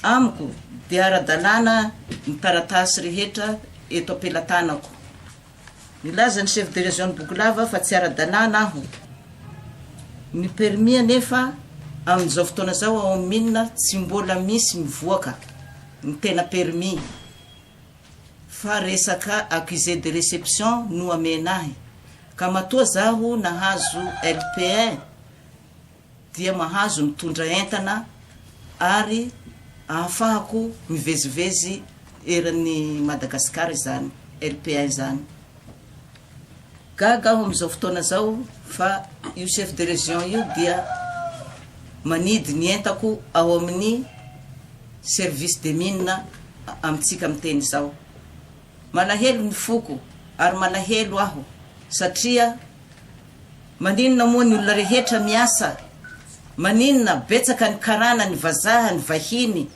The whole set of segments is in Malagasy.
Amiko dia ara-dalàna ny taratasy rehetra eto am-pelatanako. Nilaza ny Chef de Région-n'i Bogolava fa tsy ara-dalàna aho. Ny permis anefa amin'izao fotoana izao ao amin'ny mine tsy mbola misy mivoaka ny tena permis fa resaka accusé de réception no amena ahy ka matoa zaho nahazo LPN dia mahazo mitondra entana ary ahafahako mivezivezy eran'i Madagasikara izany LPN izany. Gaga aho amin'izao fotoana izao fa io chef de région io dia manidy ny entako ao amin'ny service des mines amintsika miteny izao. Malahelo ny foko ary malahelo aho satria. Maninona moa ny olona rehetra miasa? Maninona betsaka ny karana, ny vazaha, ny vahiny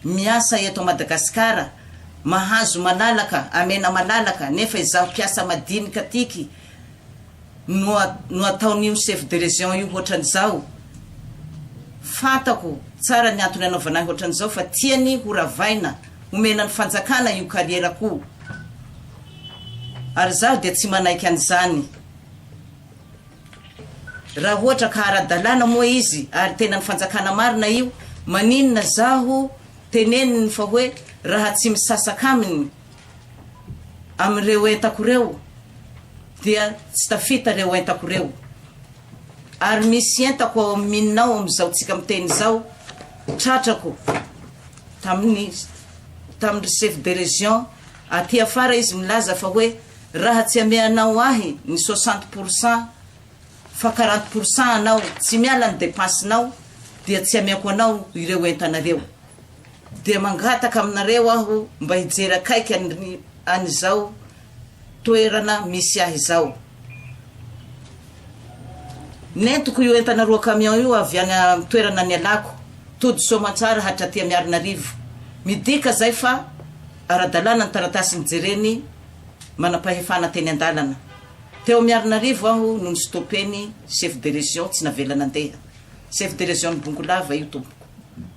miasa eto Madagascar, mahazo malalaka, amena malalaka, nefa izaho mpiasa madinika tiky no no ataon'io chef de region io hoatran'izao? Fantako tsara ny antony anaovana ahy hoatran'izao fa tiany ho ravaina Omena ny fanjakana io kariera ko ary zaho dia tsy manaiky an'izany raha ohatra ka ara-dalàna moa izy ary tena ny fanjakana marina io maninona zaho teneniny fa hoe raha tsy misasaka aminy amin'ireo entako ireo dia tsy tafita ireo entako ireo. Ary misy entako ao amin'ny mininao amin'izao tsika miteny izao, tratrako tamin'ny tamin-dry chef de région aty afara izy milaza fa hoe raha tsy ameanao ahy ny soixante pour cent fa quarante pour cent anao tsy miala ny dépense-nao dia tsy ameako anao ireo entanareo. Dia mangataka aminareo aho mba hijery akaiky an'i an'izao toerana misy ahy izao. Nentiko io entana roa camion io avy any amin'ny toerana nialako, tody Soamantsara hatraty Miarinarivo. Midika izay fa ara-dalàna ny taratasy nijereny manam-pahefana teny an-dalana. Teo Miarinarivo aho no ni-stopper-ny Chef de Région tsy navela nandeha. Chef de Région-n'i Bongolava io tompoko.